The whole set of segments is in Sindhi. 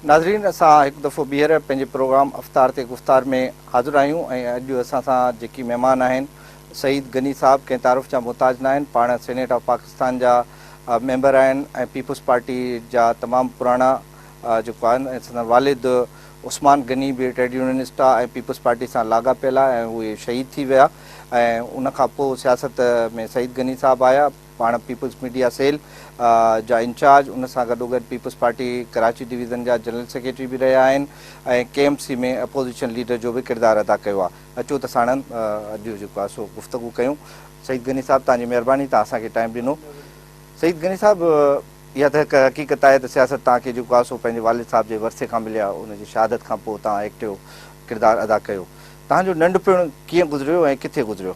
ناظرين اسان هڪ دفعو ٻيهر پنهنجي پروگرام افتار تي گفتار ۾ حاضر آهيون ۽ اڄ اسان سان جيڪي مهمان آهن سعيد غني صاحب ڪنهن تعارف جا محتاج ناهن پاڻ سينيٽ آف پاڪستان جا ميمبر آهن ۽ پيپلز پارٽي جا تمام پراڻا جيڪو آهن سندن والد عثمان غني به ٽريڊ يونينسٽ آ ۽ پيپلز پارٽي سان لاڳاپيل آ ۽ اهي شهيد ٿي ويا ۽ ان کان پوء سياست ۾ سعيد غني صاحب آيا پاڻ پيپلز ميڊيا سيل جا انچارج ان سان گڏوگڏ پيپلز پارٽي ڪراچي ڊويزن جا جنرل سيڪريٽري به رهيا آهن ۽ K M C ۾ opposition leader جو به ڪردار ادا ڪيو آ اچو ته ساڻن اڄ جيڪو آ سو گفتگو ڪيون سعيد غني صاحب توهان جي مهرباني توهان اسان کي ٽائيم ڏنو. سعيد غني صاحب اها ته هڪ حقيقت آهي ته سياست توهان کي جيڪو آسو پنهنجي والد صاحب جي ورثي کان ملي آهي ان جي شهادت کان پوء توهان ايڪٽيو ڪردار ادا ڪيو توهان جو ننڍپڻ ڪيئن گذريو ۽ ڪٿي گذريو؟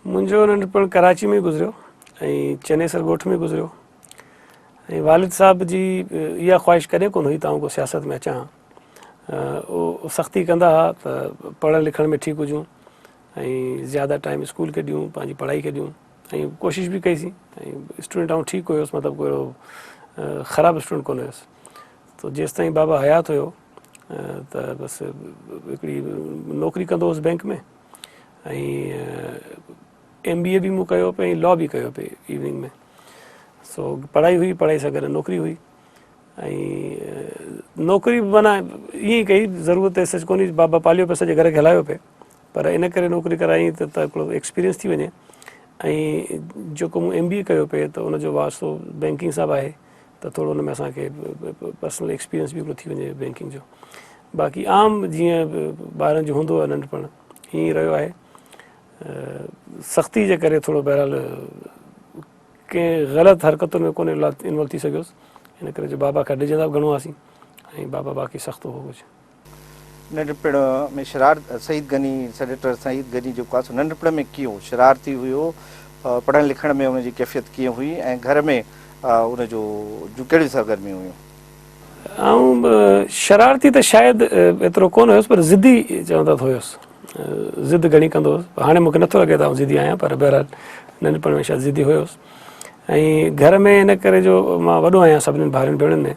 منهنجو ننڍپڻ ڪراچي ۾ گذريو ۽ چنيسر ڳوٺ ۾ گذريو ۽ والد صاحب جي اها خواهش ڪڏهن ڪونه هئي ته آئون ڪو سياست ۾ اچان ها هو سختي ڪندا ها ته پڙهڻ لکڻ ۾ ٺيڪ هجون ۽ زياده ٽائيم اسڪول کي ڏيون پنهنجي پڙهائي کي ڏيون ۽ ڪوشش به ڪئي سين ۽ اسٽوڊنٽ آئون ٺيڪ هيس مطلب ڪو خراب اسٽوڊنٽ ڪونه هيس تو جيستائين بابا حيات هيو ته بس هڪڙي نوڪري ڪندو هوس بئنڪ ۾ ۽ ايم بي اي به مون ڪيو پئي لا به ڪيو پئي ايوننگ ۾ سو پڙهائي هئي پڙهائي سان گڏ نوڪري هئي ۽ نوڪري به معنی ائين ڪئي ضرورت سچ ڪونهي بابا پاليو پئي سڄي گهر کي هلايو پئي پر ان ڪري نوڪري ڪرايائين ته ٿورو ايڪسپيرينس ٿي وڃي ۽ جيڪو مون ايم بي اي ڪيو پئي ته ان جو واسطو بينڪنگ سان به آهي ته ٿورو ان ۾ اسان کي پرسنل ايڪسپيرينس به هڪڙو ٿي وڃي بينڪنگ جو باقي عام جيئن ٻارن جو هوندو آهي ننڍپڻ ائين رهيو آهي سختي جي ڪري ٿورو بهرحال ڪنهن غلط حرڪتن ۾ ڪونه انوالو ٿي سگهيس ان ڪري جو بابا کان ڊڄندا به گهڻو هئاسين ۽ بابا باقي سخت هو ڪجهه ننڍپڻ ۾ شرارت سعيد غني سينيٽر سعيد غني جيڪو آهي سو ننڍپڻ ۾ ڪيئون شرارتي هيو، پڙهڻ لکڻ ۾ ان جي ڪيفيت ڪيئن هئي ۽ گهر ۾ ان جو جون ڪهڙيون سرگرميون هيون؟ آئون شرارتي ته شايد ايترو ڪونه هيس پر ضدي چوندا ته هيس، ضد گهڻي ڪندو هيس، هاڻي مونکي نٿو لڳي ته آئون ضدي آهيان پر بهرحال ننڍپڻ ۾ شايد ضدي هيس ۽ گهر ۾ ان ڪري جو مان وڏو آهيان سڀني ڀائرن ڀيڻن ۾.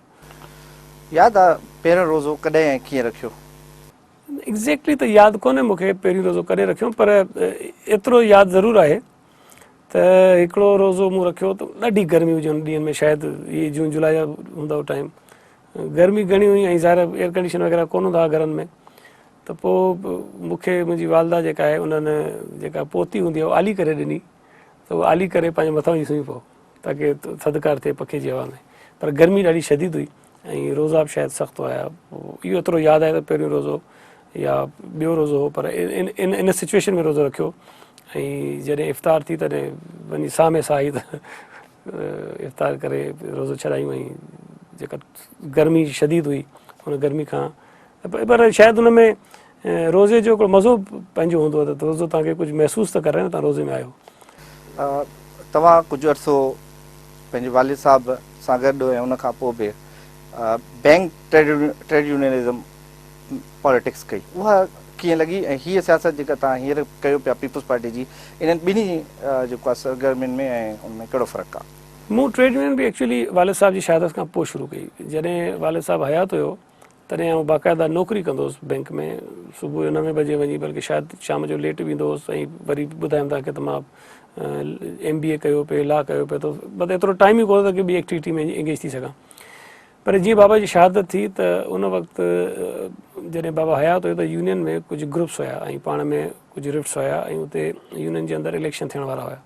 ياد آ پهريون روزو ڪڏهن ۽ ڪيئن رکيو؟ ايگزيڪٽلي ته ياد ڪونهي مون کي پهريون روزو ڪڏهن رکيم پر ايترو ياد ضرور آهي ته هڪڙو روزو مون رکيو ته ڏاڍي گرمي هجي ان ڏينهن ۾ شايد هي جون جولاء جا هوندا هو ٽائيم گرمي گهڻي هئي ۽ ظاهر ايئر ڪنڊيشن وغيره ڪون هوندا هئا گهرن ۾ ته پوء مون کي منهنجي والده جيڪا آهي انهن جيڪا پوتي هوندي آهي اها آلي ڪري ڏني ته اها آلي ڪري پنهنجي مٿان وجهي سمهي پئو تاڪي ٿڌڪار ٿئي پکي جي هوا ۾. پر گرمي ڏاڍي شديد هئي ۽ روزا به شايد سخت هيا. اهو ايترو ياد آهي ته پهريون روزو يا ٻيو روزو هو پر ان ان سچويشن ۾ روزو رکيو ۽ جڏهن افطار ٿي تڏهن وڃي ساهه ۾ ساهه آئي ته افطار ڪري روزو ڇڏايون ۽ جيڪا گرمي شديد هئي ان گرمي کان پر شايد ان ۾ روزي جو هڪڙو مزو پنهنجو هوندو آهي ته روزو توهان کي ڪجهه محسوس ته ڪرائي نه توهان روزي ۾ آهيو. توهان ڪجهه عرصو پنهنجي والد صاحب سان گڏ ۽ ان کان پوء به بئنڪ ٽريڊ يونينزم پاليٽڪس ڪئي اها ڪيئن لڳي ۽ هيء سياست جيڪا توهان هينئر ڪيو پيا پيپلز پارٽي جي انهن ٻنهي جيڪو آهي سرگرمين ۾ ۽ ان ۾ ڪهڙو فرق آهي؟ مون ٽريڊ يونين به ايڪچوئلي والد صاحب جي شهادت کان پوء شروع ڪئي جڏهن والد صاحب حيات هيو. تڏهن آئون باقاعده نوڪري ڪندو هوس بئنڪ ۾ صبح جو نوين بجي وڃي بلڪه شايد شام جو ليٽ ويندو هوس ۽ وري ٻڌايم تان کي ته مان ايم بي اي ڪيو پي لا ڪيو پي ته بس ايترو ٽائم ئي ڪونه ٿو ڪي ٻي ايڪٽيوٽي ۾ انگيج ٿي سگهان پر جيئن بابا جي شهادت ٿي ته ان وقت جڏهن بابا حيات هيو ته يونين ۾ ڪجهه گروپس هيا ۽ پاڻ ۾ ڪجهه رفٽس هيا ۽ اتي يونين جي اندر اليڪشن ٿيڻ وارا هيا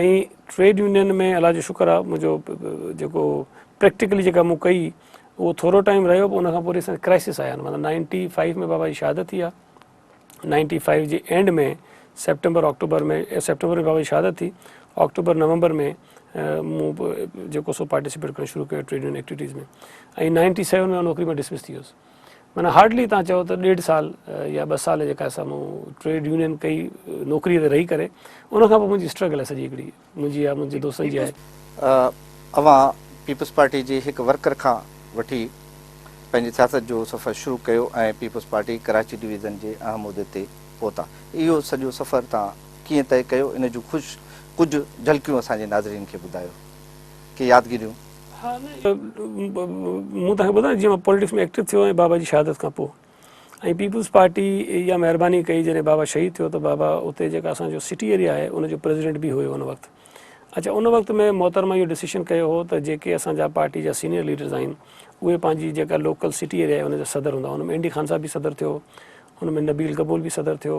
۽ ٽريڊ يونين ۾ الله جو شڪر آهي منهنجو جيڪو پريڪٽيڪلي جيڪا مون ڪئي اهو ٿورو ٽائيم رهيو پر ان کان پوء وري ڪرائسس آيا آهن مطلب نائنٽي فائيو ۾ بابا جي شهادت ٿي آهي نائنٽي فائيو جي اينڊ ۾ سيپٽمبر آڪٽوبر ۾ سيپٽمبر ۾ بابا جي شهادت ٿي آڪٽوبر نومبر ۾ مون جيڪو سو پارٽيسپيٽ ڪرڻ شروع ڪيو trade union activities ۾ ۽ ninety seven ۾ نوڪري مان ڊسمس ٿي ويس معنيٰ هارڊلي تهان چئو ته ڏيڍ سال يا ٻه سال جيڪا اسان مون ٽريڊ يونين ڪئي نوڪري تي رهي ڪري ان کان پوء منهنجي اسٽرگل آهي سڄي هڪڙي منهنجي يا منهنجي دوستن جي آهي. اوهان پيپلز پارٽي جي هڪ ورڪر کان وٺي پنهنجي سياست جو سفر شروع ڪيو ۽ پيپلز پارٽي ڪراچي ڊويزن جي اهم عهدي تي پهتا. اهو سڄو سفر تهان ڪيئن طئي ڪيو ان جون ڪجهه جهلڪيون اسان جي ناظرين کي ٻڌايو. ڪي يادگيريون. مون توهان کي ٻڌايو جيئن مان پوليٽڪس ۾ ايڪٽو ٿيو ۽ بابا جي شهادت کان پوء ۽ پيپلز پارٽي اها مهرباني ڪئي جڏهن بابا شهيد ٿيو ته بابا اتي جيڪا اسان جو سٽي ايريا آهي ان جو پريزيڊنٽ به هيو ان وقت اڇا ان وقت ۾ محترمه اهو ڊسيشن ڪيو هو ته جيڪي اسان جا پارٽي جا سينيئر ليڊرز آهن اهي پنهنجي جيڪا لوڪل سٽي ايريا آهي ان جا صدر هوندا ان ۾ اينڊي خان صاحب به صدر ٿيو ان ۾ نبيل گبول به صدر ٿيو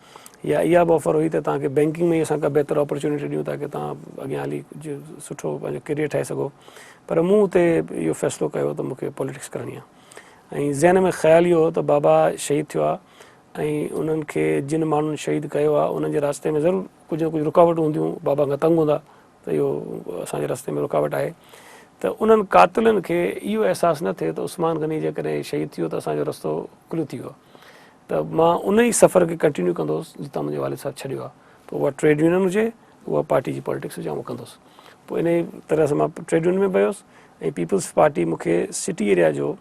يا اها به آفر هئي ته توهان کي بئنڪنگ ۾ ئي اسان ڪا بهتر آپرچونٽي ڏيون تاڪه توهان اڳيان هلي ڪجهه سٺو پنهنجو ڪيريئر ٺاهي سگهو پر مون اتي اهو فيصلو ڪيو ته مون کي پاليٽڪس ڪرڻي آهي ۽ ذهن ۾ خيال اهو هو ته بابا شهيد ٿيو آهي ۽ انهن کي جن ماڻهن شهيد ڪيو آهي انهن جي رستي ۾ ضرور ڪجهه نه ڪجهه رڪاوٽون هونديون بابا کان تنگ هوندا ته اهو اسان جي رستي ۾ رڪاوٽ آهي ته انهن قاتلن کي اهو احساس نه ٿئي ته عثمان غني جيڪڏهن شهيد ٿي ويو ته اسان جو رستو کليو ٿي ويو ته مان ان ئي سفر کي ڪنٽينيو ڪندو هوس جتان منهنجي والد صاحب ڇڏيو آهي پوء اها ٽريڊ يونين هجي اها پارٽي جي پالٽڪس هجي آئون ڪندو هوس پوء ان ئي طرح سان مان ٽريڊ يونين ۾ به ويوس ۽ پيپلز پارٽي مون کي سٽي ايريا جو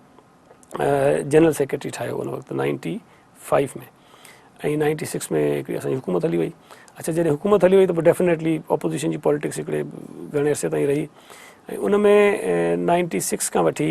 جنرل سيڪريٽري ٺاهيو ان وقت نائنٽي فائيو ۾ ۽ نائنٽي سڪس ۾ هڪڙي اسان جي حڪومت هلي وئي اچھا جڏهن حڪومت هلي وئي ته پوء ڊيفينيٽلي اپوزيشن جي پاليٽڪس هڪڙي گھڻي عرصي تائين رهي ۽ ان ۾ نائنٽي سڪس کان وٺي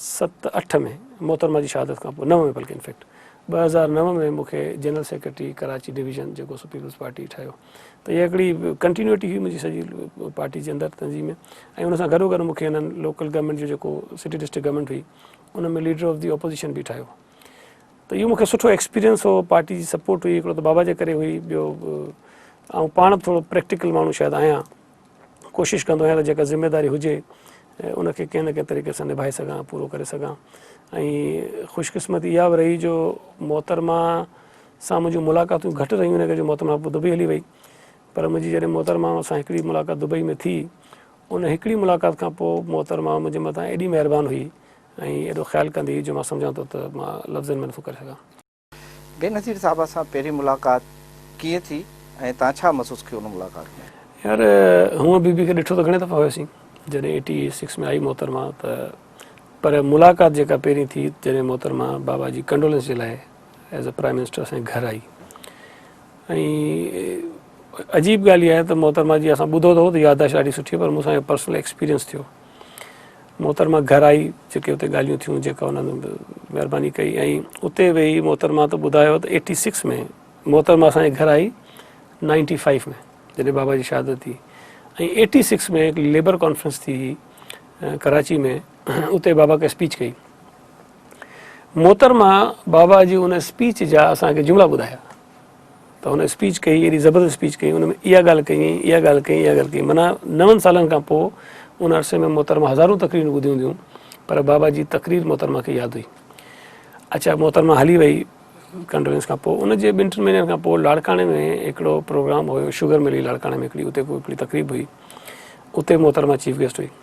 ست اٺ ۾ محترمه جي شهادت کانپوء نو ۾ بلڪه انفيڪٽ ٻه هزار نو ۾ مون کي جنرل سيڪريٽري ڪراچي ڊويزن جيڪو سو پيپلز پارٽي ٺاهيو ته اها هڪڙي ڪنٽينيوٽي هئي منهنجي سڄي پارٽي جي اندر تنظيم ۾ ۽ ان سان گڏو گڏ مون کي هنن لوڪل گورنمينٽ جو جيڪو سٽي ڊسٽرڪٽ گورنمينٽ هئي ان ۾ ليڊر آف دي اپوزيشن به ٺاهيو ته اهو مونکي سٺو ايڪسپيرينس هو پارٽي جي سپورٽ هئي هڪڙو ته بابا جي ڪري هئي ٻيو آئون پاڻ به ٿورو پريڪٽيڪل ماڻهو شايد آهيان ڪوشش ڪندو آهيان ته جيڪا ذميواري هجي ان کي ڪنهن نه ڪنهن طريقي سان نڀائي سگهان پورو ڪري سگهان ۽ خوش قسمتي اها به رهي جو محترمه سان منهنجون ملاقاتون گهٽ رهيون ان ڪري جو محترمه پوء دبئي هلي وئي پر منهنجي جڏهن محترمه سان هڪڙي ملاقات دبئي ۾ ٿي ان هڪڙي ملاقات کان پوء محترمه منهنجي مٿان ايڏي مهربان هئي ۽ ايڏو خيال ڪندي هئي جو مان سمجهان ٿو ته مان لفظن ۾ نٿو ڪري سگهان بينظير صاحب اسان پهرين ملاقات ڪيئن ٿي ۽ تان ڇا محسوس ڪيو ان ملاقات ۾. يار هونء بي بي کي ڏٺو ته گهڻي دفعا هيوسين جڏهن ايٽي سڪس ۾ آئي محترمه ته پر ملاقات جيڪا پهرين ٿي جڏهن محترمه بابا جي ڪنڊولينس جي لاء ايز اي پرائيم منسٽر اسان جي گهر آئي ۽ عجيب ڳالهه اها آهي ته محترمه جي اسان ٻڌو ته هو ته يادداشت ڏاڍي سٺي پر مون سان اهو پرسنل ايڪسپيرينس ٿيو محترمه گهر آئي جيڪي اتي ڳالهيون ٿيون جيڪا انهن مهرباني ڪئي ۽ اتي ويهي محترمه ته ٻڌايو ته ايٽي سڪس ۾ محترمه اسان جي گهر آئي نائنٽي فائيو ۾ جڏهن بابا جي شهادت ٿي ۽ ايٽي سڪس ۾ هڪ ليبر ڪانفرنس ٿي هئي ڪراچي ۾ اتي بابا کي اسپيچ ڪئي محترمه بابا جي ان اسپيچ جا اسانکي جملا ٻڌايا ته هن اسپيچ ڪئي ايڏي زبردست اسپيچ ڪئي ان ۾ اها ڳالهه ڪئي ائين اها ڳالهه ڪئي اها ڳالهه ڪئي معنيٰ نون سالن کان پوء ان عرصي ۾ محترمه هزارون تقريرون ٻڌيون هونديون پر بابا جي تقرير محترمه کي ياد هئي اچا محترمه هلي وئي ڪنڊولينس کان پوء ان جي ٻن ٽن مهينن کان پوء لاڙڪاڻي ۾ هڪڙو پروگرام هيو شوگر ملي لاڙڪاڻي ۾ هڪڙي اتي هڪڙي تقريب هئي اتي محترمه چيف گيسٽ هئي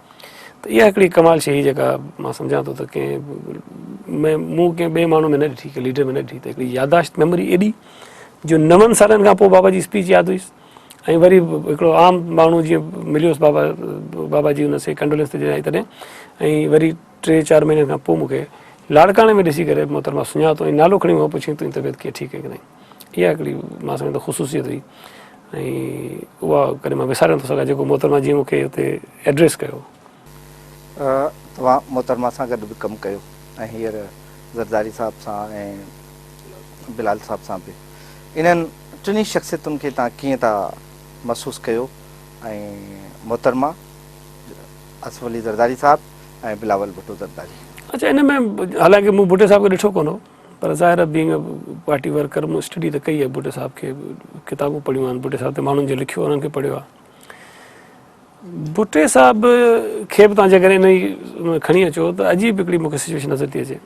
ته اها هڪڙي ڪمال شيء هئي جيڪا مان سمجهان ٿو ته ڪنهن ۾ مون ڪنهن ٻئي ماڻهو ۾ نه ڏٺي ڪنهن ليڊر ۾ نه ڏٺي ته هڪڙي ياداشت ميموري ايڏي جو نون سالن کان پوء بابا جي اسپيچ ياد هئيس ۽ وري هڪڙو عام ماڻهو جيئن مليوس بابا بابا جي ان سي ڪنڊولنس تي جڏهن آئي تڏهن ۽ وري ٽي چار مهينن کان پوء مون کي لاڙڪاڻي ۾ ڏسي ڪري محترمه سڃاتو ۽ نالو کڻي مون کان پڇيائين تنهنجي طبيعت ڪيئن ٺيڪ آهي ڪي ناهي اها هڪڙي مان سمجهان ٿو خصوصيت هئي ۽ اها ڪڏهن مان وساري نٿو سگهان جيڪو محترمه جيئن مون کي اتي ايڊريس ڪيو. توهان محترمه سان گڏ به ڪم ڪيو ۽ هينئر زرداري صاحب سان ۽ بلال صاحب سان به انهن ٽنهي شخصيتن کي توهان ڪيئن ٿا محسوس ڪيو ۽ محترمه اصف علي زرداري صاحب ۽ بلاول ڀٽو زرداري. اڇا ان ۾ حالانڪه مون ڀٽي صاحب کي ڏٺو ڪونه هو. پر ظاهر آهي بينگ اي پارٽي ورڪر مون اسٽڊي ته ڪئي آهي ڀٽو صاحب کي ڪتابون پڙهيون آهن ڀٽي صاحب تي ماڻهن جو لکيو انهن کي پڙهيو آهي ڀٽي صاحب کي به تان جي ڪري انهي کڻي اچو ته عجيب هڪڙي مونکي سچويشن نظر ٿي اچي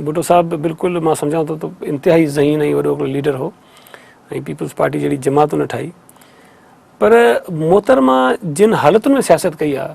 ڀٽو صاحب بلڪل مان سمجهان ٿو ته انتهائي ذهين ۽ وڏو هڪڙو ليڊر هو ۽ پيپلز پارٽي جهڙي جماعت نه ٺاهي پر محترمه جن حالتن ۾ سياست ڪئي آهي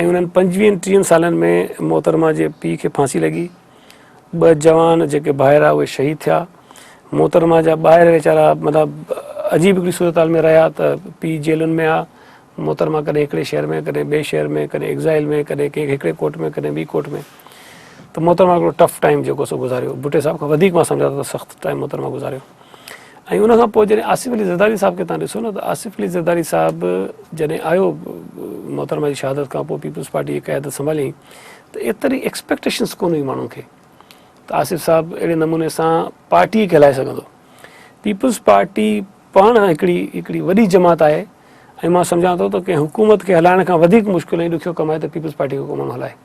۽ انهن پنجويهن ٽيهن سالن ۾ محترمه جي پيء کي ڦاسي لڳي، ٻه جوان جيڪي ڀائرا اهي شهيد ٿيا، محترمه جا ٻائر ويچارا مطلب عجيب هڪڙي صورتحال ۾ رهيا ته پيء جيلن ۾ آ، محترمه ڪڏهن هڪڙي شهر ۾ ڪڏهن ٻئي شهر ۾ ڪڏهن ايگزائل ۾ ڪڏهن ڪنهن هڪڙي ڪوٽ ۾ ڪڏهن ٻي ڪوٽ ۾ ته محترمه هڪڙو ٽف ٽائيم جيڪو سو گذاريو، ڀٽي صاحب کان وڌيڪ مان سمجهان ٿو ته سخت ٽائيم محترمه گذاريو. ۽ ان کان پوء جڏهن آصف علي زرداري صاحب کي توهان ڏسو نه ته آصف علي زرداري صاحب جڏهن آيو محترمه جي شهادت کان پوء پيپلز پارٽي جي قيادت سنڀاليائين ته ايتري ايڪسپيڪٽيشنس ڪونه هئي ماڻهن کي ته آصف صاحب اهڙي نموني سان پارٽي کي هلائي سگهندو پيپلز پارٽي پاڻ هڪڙي هڪڙي وڏي جماعت آهي ۽ مان سمجهان ٿو ته ڪنهن حڪومت کي هلائڻ کان وڌيڪ مشڪل ۽ ڏکيو ڪم آهي ته پيپلز پارٽي کي ڪو ماڻهو هلائي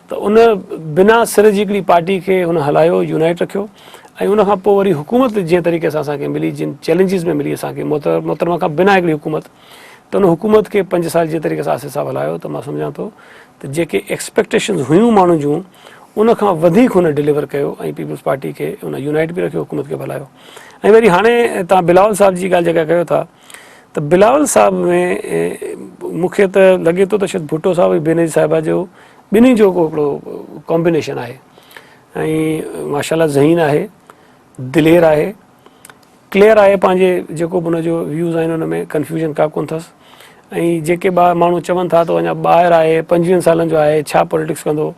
ته ان بنا سر جي هڪڙي پارٽي کي هن هلايو، يونائيٽ رکيو ۽ ان کان پوء وري حڪومت جنهن طريقي سان اسان کي ملي، جن چئلينجز ۾ ملي اسان کي محترمه کان بنا هڪڙي حڪومت ته ان حڪومت کي پنج سال جنهن طريقي سان آصف صاحب هلايو ته مان سمجهان ٿو ته جيڪي ايڪسپيڪٽيشنز هيون ماڻهن جون ان کان وڌيڪ هن ڊليور ڪيو ۽ پيپلز پارٽي کي هن يونائيٽ به رکيو، حڪومت کي به هلايو ۽ وري هاڻي توهان بلاول صاحب جي ڳالهه جيڪا ڪيو ٿا. ته بلاول صاحب ۾ مون کي ته لڳي ٿو ته شايد ڀٽو صاحب ۽ بينظير صاحبه جو ٻنهي جو ڪو هڪڙو ڪامبينيشن آهي ۽ ماشاءالله ذهين آهي دلير آهي ڪليئر آهي پنهنجي جيڪو به ان جو ويوز آهن ان ۾ ڪنفيوزن کا ڪون اٿس ۽ جيڪي ٻا ماڻهو چون ٿا ته اڃا ٻاهر آهي پنجويهن سالن جو آهي ڇا پاليٽڪس ڪندو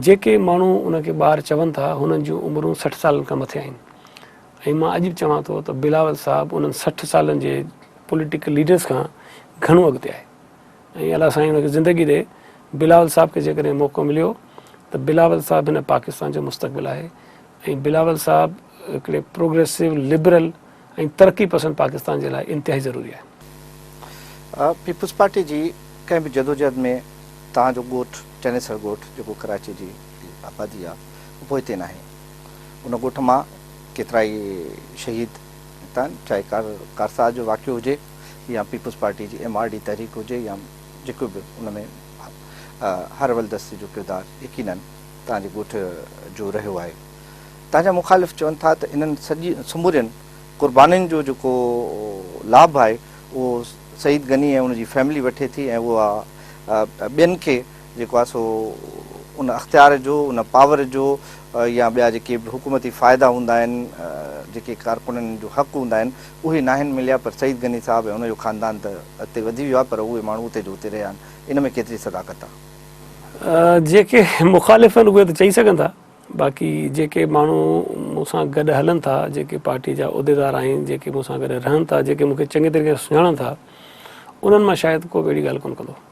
جيڪي ماڻهو ان کي ٻاهر چون ٿا هنن جون عمرون سٺ سالن کان مٿي آهن ۽ مان اڄ به چوان ٿو ته بلاول صاحب انهن سٺ سالن جي پوليٽيڪل ليڊرس کان گهڻو اڳتي آهي ۽ الله سائين ان کي زندگي ڏي بلاول صاحب کي جيڪڏهن موقعو مليو ته بلاول صاحب هن پاڪستان جو مستقبل آهي ۽ بلاول صاحب هڪڙي پروگريسو لبرل ۽ ترقي پسند پاڪستان جي لاء انتهائي ضروري آهي. پيپلز پارٽي جي ڪنهن به جدوجهد ۾ توهان جو ڳوٺ چنيسر ڳوٺ جيڪو ڪراچي جي آبادي آهي اهو پوئتي ناهي. ان ڳوٺ مان ڪيترائي شهيد نڪتان چاهي ڪارساز جو واقعو هجي يا پيپلز پارٽي جي ايم آر ڊي تحريڪ هجي يا جيڪو به ان ۾ هر ولدستي جو ڪردار يقينن تان جي ڳوٺ جو رهيو آهي تان جا مخالف چون ٿا ته انهن سمورين قربانين جو جيڪو لاڀ آهي اهو سعيد غني ۽ ان جي فيملي وٺي ٿي ۽ اها ٻين کي جيڪو آهي سو ان اختيار جو، ان پاور جو يا ٻيا جيڪي به حڪومتي فائدا هوندا آهن، جيڪي ڪارڪنن جو حق هوندا آهن، اهي ناهن مليا پر سعيد غني صاحب ۽ ان جو خاندان ته اڳتي وڌي ويو آهي پر اهي ماڻهو اتي جو اتي رهيا آهن. ان ۾ ڪيتري صداقت آهي؟ جيڪي مخالف آهن اهي ته چئي سگهن ٿا باقي جيڪي ماڻهو مون سان گڏ هلن ٿا، جيڪي پارٽي جا عهديدار آهن، جيڪي مون سان گڏ رهن ٿا، جيڪي مون کي چڱي طريقي سان سڃاڻن ٿا، انهن مان شايد ڪو به اهڙي ڳالهه ڪونه ڪندو.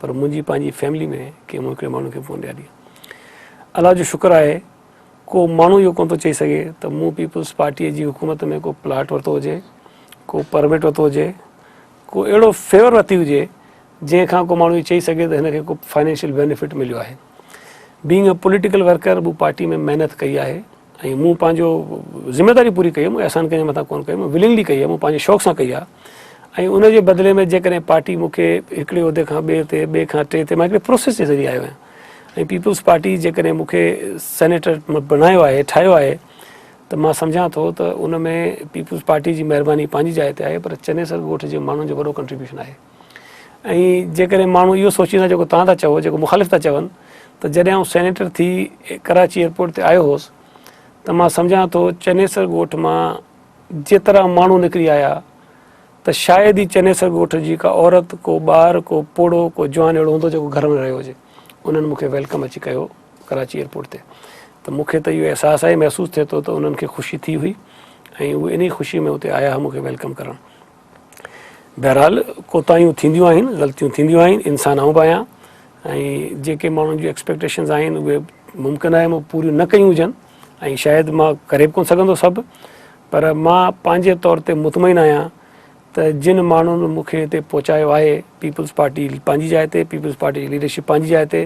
پر منهنجي پنهنجي فيملي ۾ ڪنهن مون هڪڙي ماڻهو کي فون ڏياري. الله جو شڪر آهي ڪو ماڻهو اهو ڪونه ٿو چئي سگهي ته مون پيپلز پارٽيء جي حڪومت ۾ ڪو پلاٽ ورتو هجي، ڪو پرمٽ ورتو هجي، ڪو اهڙو فيور ورتي هجي جنهن کان ڪو ماڻهو اهو چئي سگهي ته هن کي ڪو فنانشل بينيفٽ مليو آهي. بينگ اي پوليٽيڪل ورڪر مون پارٽي ۾ محنت ڪئي آهي. ۽ مون پنهنجو ذميواري پوري ڪئي مون احسان ڪنهن جي مٿان ڪونه ڪئي مون ولنگلي ڪئي آهي مون پنهنجي شوق سان ڪئي آهي ۽ ان جي بدلي ۾ جيڪڏهن پارٽي مون کي هڪڙي عهدي کان ٻئي تي ٻئي کان ٽئي تي مان هڪڙي پروسيس جي ذريعي آيو آهيان ۽ پيپلز پارٽي جيڪڏهن مون کي سينيٽر بڻايو آهي ٺاهيو آهي ته مان سمجهان ٿو ته ان ۾ پيپلز پارٽي جي مهرباني پنهنجي جاء تي آهي پر چنيسر ڳوٺ جي ماڻهن جو وڏو ڪنٽريبيوشن آهي ۽ جيڪڏهن ماڻهو اهو سوچين ٿا جيڪو توهان ٿا چئو جيڪو مخالف ٿا چون ته جڏهن آئون سينيٽر ٿي ڪراچي ايئرپورٽ تي آيو هوس ته مان سمجهان ٿو چنيسر ڳوٺ مان جيترا ماڻهو نڪري آيا ته شايد ئي چنيسر ڳوٺ جي ڪا عورت ڪو ٻار ڪو پوڙهو ڪو جوان اهڙو هوندو جيڪو گهر ۾ رهيو هجي انهن مون کي ويلڪم اچي ڪيو ڪراچي ايئرپورٽ تي ته مون کي ته اهو احساس آهي محسوس ٿئي ٿو ته انهن کي خوشي ٿي هئي ۽ اهي انهي خوشي ۾ اتي آيا هئا مون کي ويلڪم ڪرڻ بهرحال ڪوتاهيون ٿينديون آهن غلطيون ٿينديون آهن انسان آئون به آهيان ۽ جيڪي ماڻهن جون ايڪسپيڪٽيشنز آهن اهي ممڪن آهي مون پوريون نه ڪيون هجن ۽ شايد مان ڪري به ڪونه سگهندو سڀ پر مان پنهنجي طور تي مطمئن آهيان ته جن ماڻهن مونکي هتي پهچايو آهي پيپلز پارٽي پنهنجي جاء تي پيپلز پارٽي جي ليڊرشپ پنهنجي جاء تي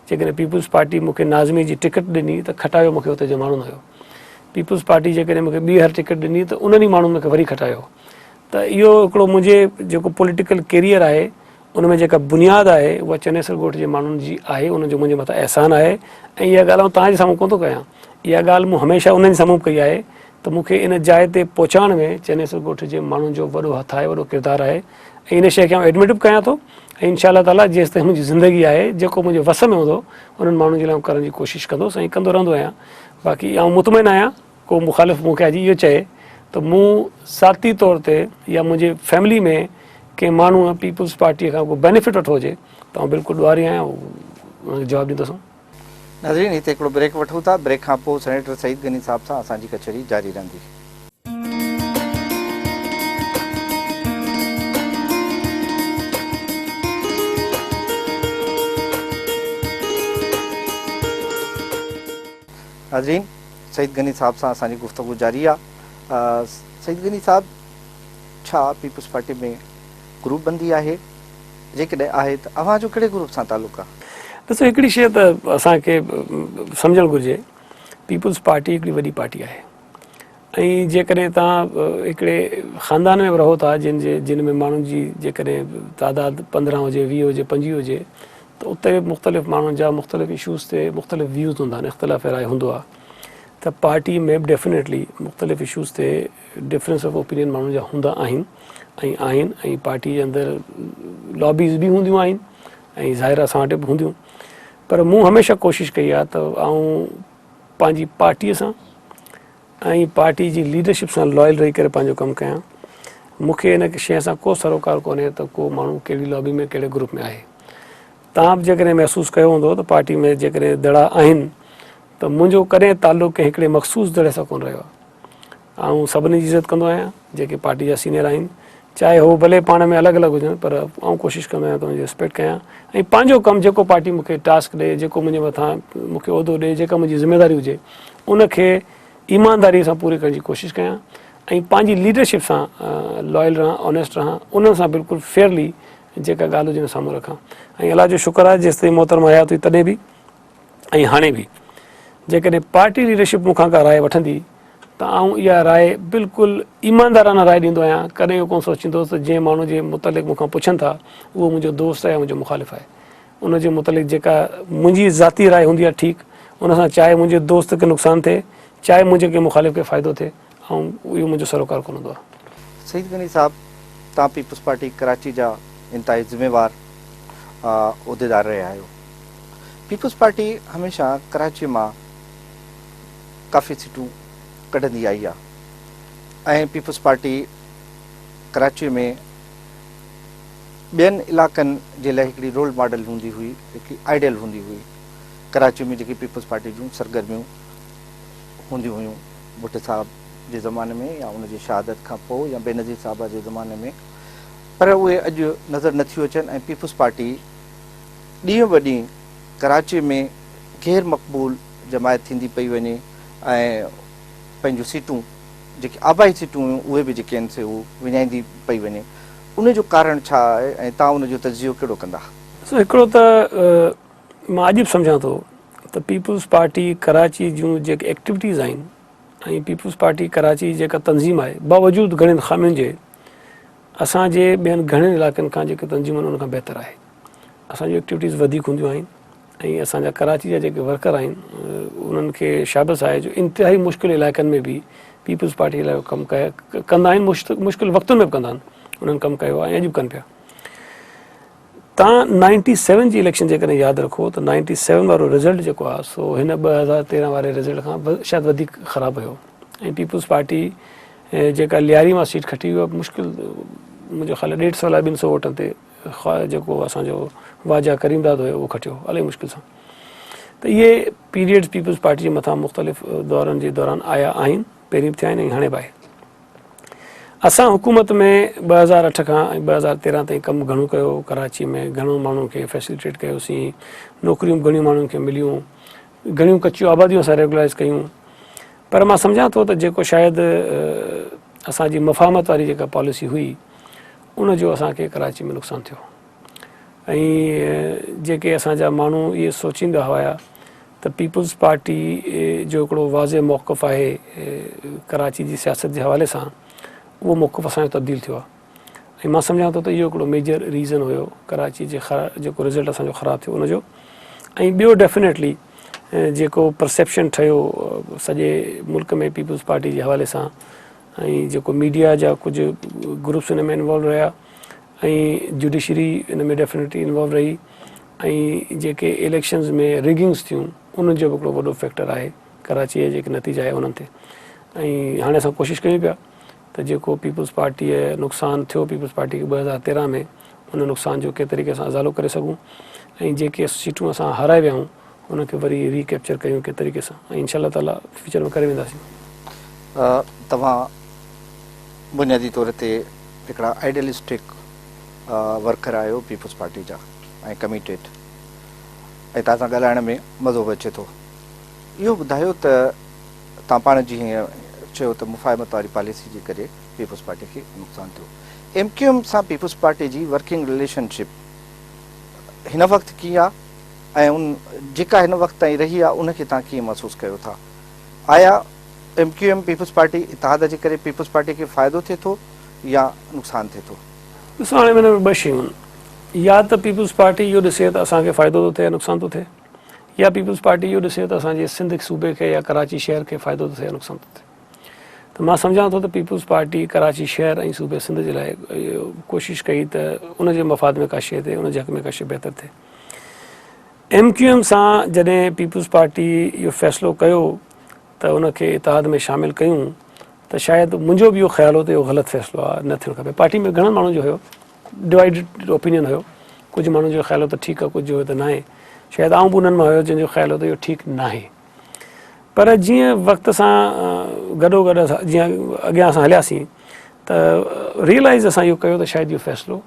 جيڪڏهن پيپلز پارٽي مونکي ناظمي جي ٽڪيٽ ڏني ته کٽايو مونکي اتي جماڻو نه هيو پيپلز پارٽي جيڪڏهن مون کي ٻيهر ٽڪيٽ ڏني ته انهن ئي ماڻهن مون کي وري کٽايو ته اهو هڪڙو منهنجي جيڪو پوليٽيڪل ڪيريئر آهي ان ۾ جيڪا بنياد آهي اها چنيسر ڳوٺ جي ماڻهن جي آهي انهن جو منهنجي مٿان احسان آهي ۽ اها ڳالهه آئون تان جي سامهون ڪونه ٿو ڪيان اها ڳالهه مون هميشه انهن جي سامهون ڪئي آهي ته مون کي ان جاء تي پهچائڻ ۾ چنيسر ڳوٺ جي ماڻهن جو وڏو هٿ آهي وڏو ڪردار آهي ۽ ان شيء کي آئون ايڊمٽ به ڪيان ٿو ۽ انشاء الله تعاليٰ جيستائين منهنجي زندگي آهي جيڪو منهنجي وس ۾ هوندو انهن ماڻهن جي لاء آئون ڪرڻ جي ڪوشش ڪندوس ۽ ڪندو رهندو آهيان باقي آئون مطمئن آهيان ڪو مخالف مون کي اڄ اهو چئي ته مون ذاتي طور تي يا منهنجي فيملي ۾ ڪنهن ماڻهوء پيپلز پارٽيء کان ڪو بينيفٽ وٺو هجي ته آئون بلڪل ڏوهاري آهيان ان کي جواب ڏيندوسون. ناظرين هتي هڪڙو بريڪ وٺون ٿا، بريڪ کان پوء سينيٽر سعيد غني صاحب سان اسان جي ڪچهري جاري رهندي. ناظرين سعيد غني صاحب سان اسان جي گفتگو جاري آ سعيد غني صاحب ڇا پيپلز پارٽي ۾ گروپ بندي آهي جيڪڏهن آهي ته اوهان جو ڪهڙي گروپ سان تعلق آ. ڏسو هڪڙي شيء ته اسان کي سمجهڻ گهرجي پيپلز پارٽي هڪڙي وڏي پارٽي آهي ۽ جيڪڏهن توهان هڪڙي خاندان ۾ به رهو ٿا جن جي جن ۾ ماڻهن جي جيڪڏهن تعداد پندرهن هجي ويهه هجي پنجويهه هجي ته اتي به مختلف ماڻهن جا مختلف اشوز تي مختلف ويوز هوندا آهن اختلاف راء هوندو آهي ته پارٽي ۾ به ڊيفنيٽلي مختلف اشوز تي ڊفرنس آف اوپينين ماڻهن جا هوندا آهن ۽ آهن ۽ پارٽي جي اندر لابيز به هونديون آهن ۽ ظاهر اسان وٽ به هونديون پر مون هميشه ڪوشش ڪئي آهي ته آئون پنهنجي پارٽي سان ۽ پارٽي جي ليڊرشپ سان لائل رهي ڪري پنهنجو ڪم ڪيان مون کي ان شيء سان ڪو سروڪار ڪونهي ته ڪو ماڻهو ڪهڙي لابي ۾ ڪهڙي گروپ ۾ آهي توهان به جيڪڏهن محسوس ڪيو هوندو ته پارٽي ۾ جيڪڏهن دڙا آهن ته منهنجو ڪڏهن تعلق ڪنهن هڪڙي مخصوص دڙي سان ڪونه رهيو آهي آئون سڀني جي عزت ڪندو آهيان جيڪي پارٽي جا سينيئر آهن چاهي هو ڀلي پاڻ ۾ الڳ الڳ هجن پر آئون ڪوشش ڪندو آهيان ته انهن جي رسپيڪٽ ڪيان ۽ پنهنجو ڪم جيڪو پارٽي مون کي ٽاسڪ ڏئي جيڪو منهنجي مٿان مون کي عهدو ڏئي جيڪا منهنجي ذميواري هجي ان کي ايمانداري سان پوري ڪرڻ جي ڪوشش ڪيان ۽ پنهنجي ليڊرشپ سان لويل رهان آنيسٽ رهان انهن سان بلڪل فيئرلي جيڪا ڳالهه هجي ان سامهون رکان ۽ الله جو شڪر آهي جيستائين محترمه حيات هئي تڏهن به ۽ هاڻي به جيڪڏهن پارٽي ليڊرشپ مون کان ڪا راء وٺندي ته آئون اها راء بلڪل ايماندارانه راء ڏيندو آهيان ڪڏهن اهو ڪونه سوچيندو ته جنهن ماڻهو جي متعلق مون کان پڇن ٿا اهو منهنجو دوست آهي يا منهنجو مخالف آهي ان جي متعلق جيڪا منهنجي ذاتي راء هوندي آهي ٺيڪ ان سان چاهي منهنجي دوست کي نقصان ٿئي چاهي منهنجي ڪنهن مخالف کي فائدو ٿئي ۽ اهو منهنجو سروڪار ڪونه هوندو. سعيد غني صاحب توهان پيپلز پارٽي ڪراچي جا انتهائي ذميوار عهديدار رهيا آهيو. پيپلز پارٽي هميشه ڪراچي مان ڪافي سيٽون ڪڍندي آئي آهي ۽ پيپلز پارٽي ڪراچي ۾ ٻين علاقن جي لاء هڪڙي رول ماڊل هوندي هئي هڪڙي آئيڊيل هوندي هئي ڪراچي ۾ جيڪي پيپلز پارٽي جون سرگرميون هونديون هيون. ڀٽ صاحب جي زماني ۾ يا ان جي شهادت کان پوء يا بينظير صاحبه جي زماني ۾ پر اهي اڄ نظر نه ٿيون اچن ۽ پيپلز پارٽي ڏينهن به ڏينهن ڪراچي ۾ غير مقبول جماعت ٿيندي پئي وڃي ۽ پنهنجون سيٽون جيڪي آبائي سيٽون هيون اهي به جيڪي آهن سي هو وڃائيندي پئي وڃي ان جو ڪارڻ ڇا آهي ۽ تان ان جو تجزيو ڪهڙو ڪندا؟ سو هڪڙو ته مان عجب سمجهان ٿو ته پيپلز پارٽي ڪراچي جون جيڪي ايڪٽيوٽيز آهن ۽ پيپلز پارٽي ڪراچي جيڪا تنظيم آهي باوجود گهڻين خامين جي اسان جي ٻين گهڻين علائقن کان جيڪي تنظيمون ان کان بهتر آهي اسان جون ايڪٽيوٽيز وڌيڪ هونديون آهن ۽ اسان جا ڪراچي جا جيڪي ورڪر آهن انهن کي شابس آهي جو انتهائي مشڪل علائقن ۾ به پيپلز پارٽي لاء ڪم ڪندا آهن مشڪل وقتن ۾ به ڪندا آهن انهن ڪم ڪيو آهي ۽ اڄ به ڪن پيا توهان نائنٽي سيون جي اليڪشن جيڪڏهن ياد رکو ته نائنٽي سيون وارو رزلٽ جيڪو آهي سو هن ٻه هزار تيرهن واري رزلٽ کان شايد وڌيڪ خراب هيو ۽ پيپلز پارٽي جيڪا لياري مان سيٽ کٽي هئي مشڪل منهنجو خيال ڏيڍ سو الاء ٻن سو ووٽن تي جيڪو اسانجو واجا ڪريم داد هيو اهو کٽيو الاء مشڪل سان ته اهي پيريڊز پيپلز پارٽي جي مٿان مختلف دورن جي دوران آيا آهن پهرين به ٿيا آهن ۽ هاڻي به آهي اسان حڪومت ۾ ٻه هزار اٺ کان ۽ ٻه هزار تيرهن تائين ڪم گهڻو ڪيو، ڪراچي ۾ گهڻو ماڻهن کي فيسليٽيٽ ڪيوسين، نوڪريون گهڻيون ماڻهن کي مليون، گهڻيون ڪچيون آباديون اسان ريگولائيز ڪيون پر مان سمجهان ٿو ته جيڪو شايد اسان جي مفاهمت واري جيڪا پاليسي هئي ان جو اسان کي ڪراچي ۾ نقصان ٿيو. ۽ جيڪي اسان جا ماڻهو اهي سوچيندا هيا ته پيپلز پارٽي جو هڪڙو واضح موقف آهي ڪراچي جي سياست جي حوالي سان اهو موقف اسان جو تبديل ٿيو آهي ۽ مان سمجهان ٿو ته اهو هڪڙو ميجر ريزن هيو ڪراچي جي جيڪو رزلٽ اسان جو خراب ٿيو ان جو ۽ ٻيو ڊيفينيٽلي جيڪو پرسيپشن ٺهيو سڄي ملڪ ۾ پيپلز پارٽي جي حوالي سان ۽ جيڪو ميڊيا جا ڪجهه گروپس ان ۾ انوالو رهيا ۽ جڊيشري ان ۾ ڊيفنيٽلي انوالو رهي ۽ جيڪي اليڪشنز ۾ رگنگز ٿيون انهن جو به هڪڙو وڏو فيڪٽر آهي ڪراچي جا جيڪي نتيجا آهي انهن تي ۽ هاڻي اسان ڪوشش ڪيون پيا ته جيڪو پيپلز پارٽي نقصان ٿيو پيپلز پارٽي کي ٻه هزار تيرهن ۾ ان نقصان جو ڪنهن طريقي سان ازالو ڪري سگهون ۽ جيڪي سيٽون اسان هارائي ويا آهيون ان کي وري ري ڪيپچر ڪيون ڪنهن طريقي سان ۽ انشاء الله تعالي فيوچر ۾ ڪري وينداسين. توهان بنيادي طور تي هڪڙا آئيڊيلسٽڪ ورڪر آهيو پيپلز پارٽي جا ۽ ڪميٽيڊ ۽ توهان سان ڳالهائڻ ۾ مزو به اچي ٿو. اهو ٻڌايو ته توهان پاڻ جي هينئر چيو ته مفاهمت واري پاليسي جي ڪري پيپلز پارٽي کي نقصان ٿيو. ايم ڪيو ايم سان پيپلز پارٽي جي ورڪنگ رليشن شپ هن وقت ڪيئن آهي؟ ۽ ان جيڪا هن وقت تائين رهي آهي ان کي توهان ڪيئن محسوس ڪيو ٿا؟ آيا M Q M peoples party اتحاد جي ڪري پيپلز پارٽي کي فائدو ٿئي ٿو يا نقصان ٿئي ٿو؟ ڏسو هاڻي ان ۾ ٻه شيون آهن يا ته پيپلز پارٽي اهو ڏسي ته اسان کي فائدو ٿو ٿئي يا نقصان ٿو ٿئي يا پيپلز پارٽي اهو ڏسي ته اسان جي سنڌ صوبي کي يا ڪراچي شهر کي فائدو ٿو ٿئي يا نقصان ٿو ٿئي ته مان سمجهان ٿو ته پيپلز پارٽي ڪراچي شهر ۽ صوبي سنڌ جي لاء ڪوشش ڪئي ته ان جي مفاد ۾ ڪا شيء ٿئي ان جي حق ۾ ڪا شيء بهتر ٿئي. ايم ڪيو ايم سان جڏهن پيپلز پارٽي اهو فيصلو ڪيو ته ان کي اتحاد ۾ شامل ڪيون ته شايد منهنجو به اهو خيال هو ته اهو غلط فيصلو آهي نه ٿيڻ کپي پارٽي ۾ گهڻن ماڻهن جو هيو ڊوائڊ اوپينين هيو ڪجهه ماڻهن جو خيال هو ته ٺيڪ آهي ڪجهه هيو ته ناهي شايد آئون به انهن مان هيو جنهن جو خيال هو ته اهو ٺيڪ ناهي پر جيئن وقت سان گڏو گڏ جيئن اڳيان اسان هلياسين ته ريئلائز اسان اهو ڪيو ته شايد اهو فيصلو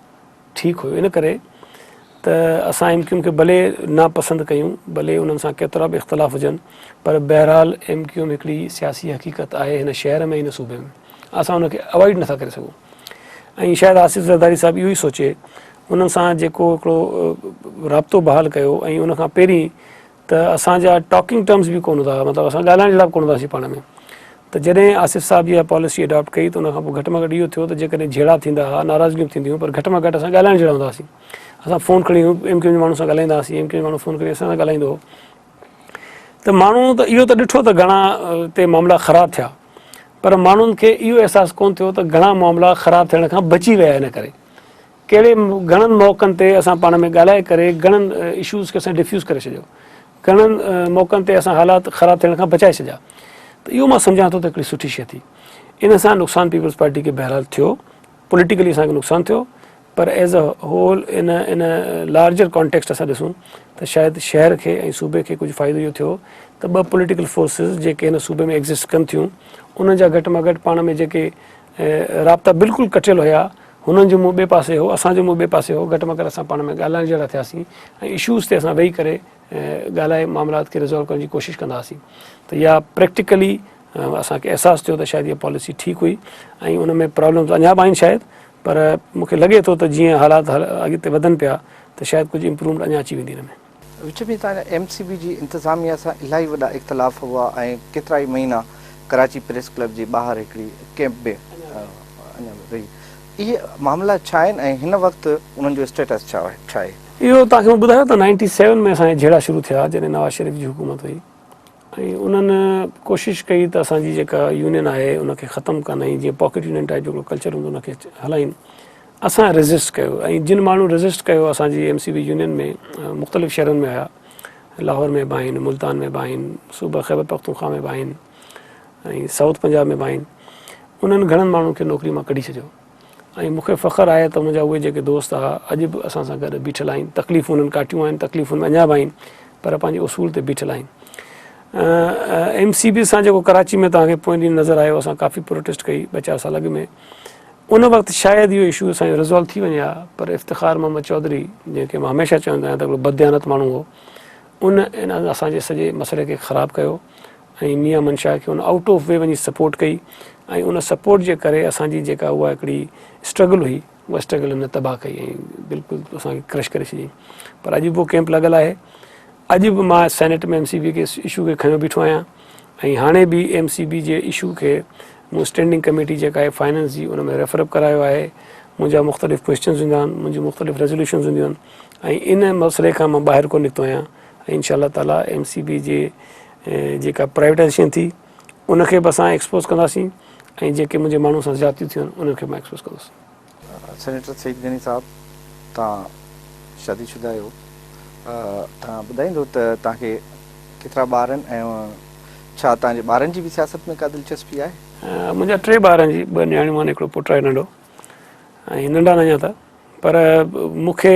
ٺيڪ هيو ان ڪري ته اسان ايم ڪيو ايم کي ڀلي ناپسند ڪيون ڀلي انهن سان ڪيترا به اختلاف هجن پر بهرحال ايم ڪيو ايم هڪڙي سياسي حقيقت آهي هن شهر ۾ هن صوبي ۾ اسان ان کي اوائڊ نٿا ڪري سگهون ۽ شايد آصف زرداري صاحب اهو ئي سوچي انهن سان جيڪو هڪڙو رابطو بحال ڪيو ۽ ان کان پهرين ته اسان جا ٽاڪنگ ٽرمس به ڪونه هوندا مطلب اسان ڳالهائڻ جهڙا به ڪونه هونداسين پاڻ ۾ ته جڏهن آصف صاحب اها پاليسي اڊاپٽ ڪئي ته ان کان پوء گهٽ ۾ گهٽ اهو ٿيو ته جيڪڏهن جهيڙا ٿيندا هئا ناراضگيون به ٿينديون پر گهٽ ۾ گهٽ اسان ڳالهائڻ جهڙا هوندا هئاسين اسان فون کڻي ايم ڪيو جي ماڻهو سان ڳالهائيندا هئاسين ايم ڪيو جي ماڻهو فون کڻي اسان سان ڳالهائيندو هو ته ماڻهو ته اهو ته ڏٺو ته گهڻا اتي معاملا خراب ٿيا پر ماڻهن کي اهو احساس ڪونه ٿيو ته گهڻا معاملا خراب ٿيڻ کان بچي ويا ان ڪري ڪهڙي گهڻن موقعن تي اسان پاڻ ۾ ڳالهائي ڪري گهڻن اشوز کي اسان ڊفيوز ڪري ڇڏيو گهڻن موقعن تي اسان حالات خراب ٿيڻ کان بچائي ڇڏيا ته اهو مان سمجهان ٿو ته هڪڙي سٺي شي ٿي ان سان نقصان پيپلز پارٽي کي بهرحال ٿيو پوليٽيڪلي اسان کي نقصان ٿيو پر as a whole in in larger context اسان ڏسون ته شايد شهر کي ۽ صوبي کي ڪجهه فائدو اهو ٿيو ته ٻه پوليٽيڪل فورسز جيڪي هن صوبي ۾ ايگزسٽ ڪن ٿيون انهن جا گهٽ مان گهٽ پاڻ ۾ جيڪي ۽ رابطا بلڪل ڪٽيل هيا، هنن جو منهن ٻئي پاسي هو، اسان جو منهن ٻئي پاسي هو، گهٽ ۾ گهٽ اسان پاڻ ۾ ڳالهائڻ جهڙا ٿياسين ۽ اشوز تي اسان ويهي ڪري ڳالهائي معاملات کي ريزالو ڪرڻ جي ڪوشش ڪندا هئاسين ته اها پريڪٽيڪلي اسان کي احساس ٿيو ته شايد اها پاليسي ٺيڪ هئي ۽ ان ۾ پرابلمز اڃا به آهن شايد پر مون کي لڳي ٿو ته جيئن حالات اڳتي وڌن پيا ته شايد ڪجهه امپرومينٽ اڃا اچي ويندي ان ۾. وچ ۾ تان ايم سي بي جي انتظاميا سان الاهي وڏا اختلاف هئا ۽ ڪيترائي مهينا ڪراچي پريس ڪلب جي ٻاهر هڪڙي ڪئمپ به اڃا به رهي. اهي معاملا ڇا آهن ۽ هن وقت انهن جو اسٽيٽس ڇا آهي؟ اهو توهان کي مون ٻڌايو ته نائنٽي سيون ۾ اسان جا جهيڙا شروع ٿيا جڏهن نواز شريف جي حڪومت هئي. ۽ انهن ڪوشش ڪئي ته اسان جي جيڪا يونين آهي ان کي ختم ڪن ۽ جيئن پاڪيٽ يونين ٽائيپ جيڪو ڪلچر هوندو ان کي هلائين اسان ريزسٽ ڪيو ۽ جن ماڻهن ريزسٽ ڪيو اسان جي ايم سي بي يونين ۾ مختلف شهرن ۾ آيا لاهور ۾ به آهن ملتان ۾ به آهن صوبه خيبر پختونخوا ۾ به آهن ۽ سائوٿ پنجاب ۾ به آهن انهن گهڻن ماڻهن کي نوڪري مان ڪڍي ڇڏيو ۽ مون کي فخر آهي ته منهنجا اهي جيڪي دوست ها اڄ به اسان سان گڏ بيٺل آهن تڪليفون انهن ڪاٽيون آهن تڪليفون ۾ اڃا به آهن پر پنهنجي اصول تي بيٺل آهن ايم سي بي سان جيڪو ڪراچي ۾ توهان کي پوئين ڏينهن نظر آيو اسان ڪافي پروٽيسٽ ڪئي ٻه چار سال اڳ ۾ ان وقت شايد اهو اشو اسان جو ريزالو ٿي وڃي ها پر افتخار محمد چوڌري جنهن کي مان هميشه چوندو آهيان ته هڪڙو بدديانت ماڻهو هو ان اسان جي سڄي مسئلي کي خراب ڪيو ۽ ميان منشا کي ان آئوٽ آف وي وڃي سپورٽ ڪئي ۽ ان سپورٽ جي ڪري اسان جي جيڪا اها هڪڙي اسٽرگل هئي اها اسٽرگل هن تباهه ڪئي ۽ بلڪل اسان کي ڪرش ڪري ڇڏيائين پر اڄ به اهو ڪيمپ لڳل آهي اڄ به مان سينيٽ ۾ ايم سي بي کي اشو کي کڻيو بيٺو آهيان ۽ هاڻي به ايم سي بي جي اشو کي مون اسٽينڊنگ ڪميٽي جيڪا آهي فائننس جي ان ۾ ريفرپ ڪرايو آهي منهنجا مختلف ڪوشچنس هوندا آهن منهنجي مختلف ريزولوشنس هونديون آهن ۽ ان مسئلي کان مان ٻاهر ڪو نڪتو آهيان ۽ انشاء الله تعاليٰ ايم سي بي جي جيڪا پرائيوٽائزيشن ٿي ان کي به اسان ايڪسپوز ڪنداسين ۽ جيڪي منهنجي ماڻهو سان زيادتيون ٿيون آهن انهن کي به مان ايڪسپوز ڪندس. سينيٽر سعيد غني صاحب توهان شادي شده آهيو توهان ٻڌائيندو ته توهان کي ڪيترا ٻار آهن ۽ ڇا توهان جي ٻارن جي به سياست ۾ ڪا دلچسپي آهي؟ منهنجا ٽي ٻار آهن جي ٻه نياڻيون آهن هڪڙو پٽ آهي ننڍو ۽ ننڍا آهن اڃا ته پر مون کي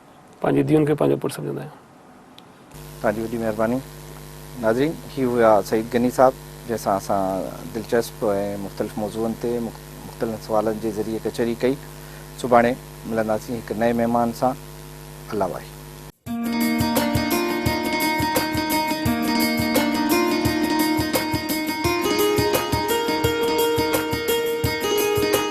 پنهنجي ڌيئن کي پنهنجو پٽ سمجهندا آهيون. توهان جي وڏي مهرباني. ناظرين هي هيا سعيد غني صاحب جنهن سان اسان دلچسپ ۽ مختلف موضوعن تي مختلن سوالن جي ذريعي ڪچهري ڪئي سڀاڻي ملنداسين هڪ نئين مهمان سان الله واهي.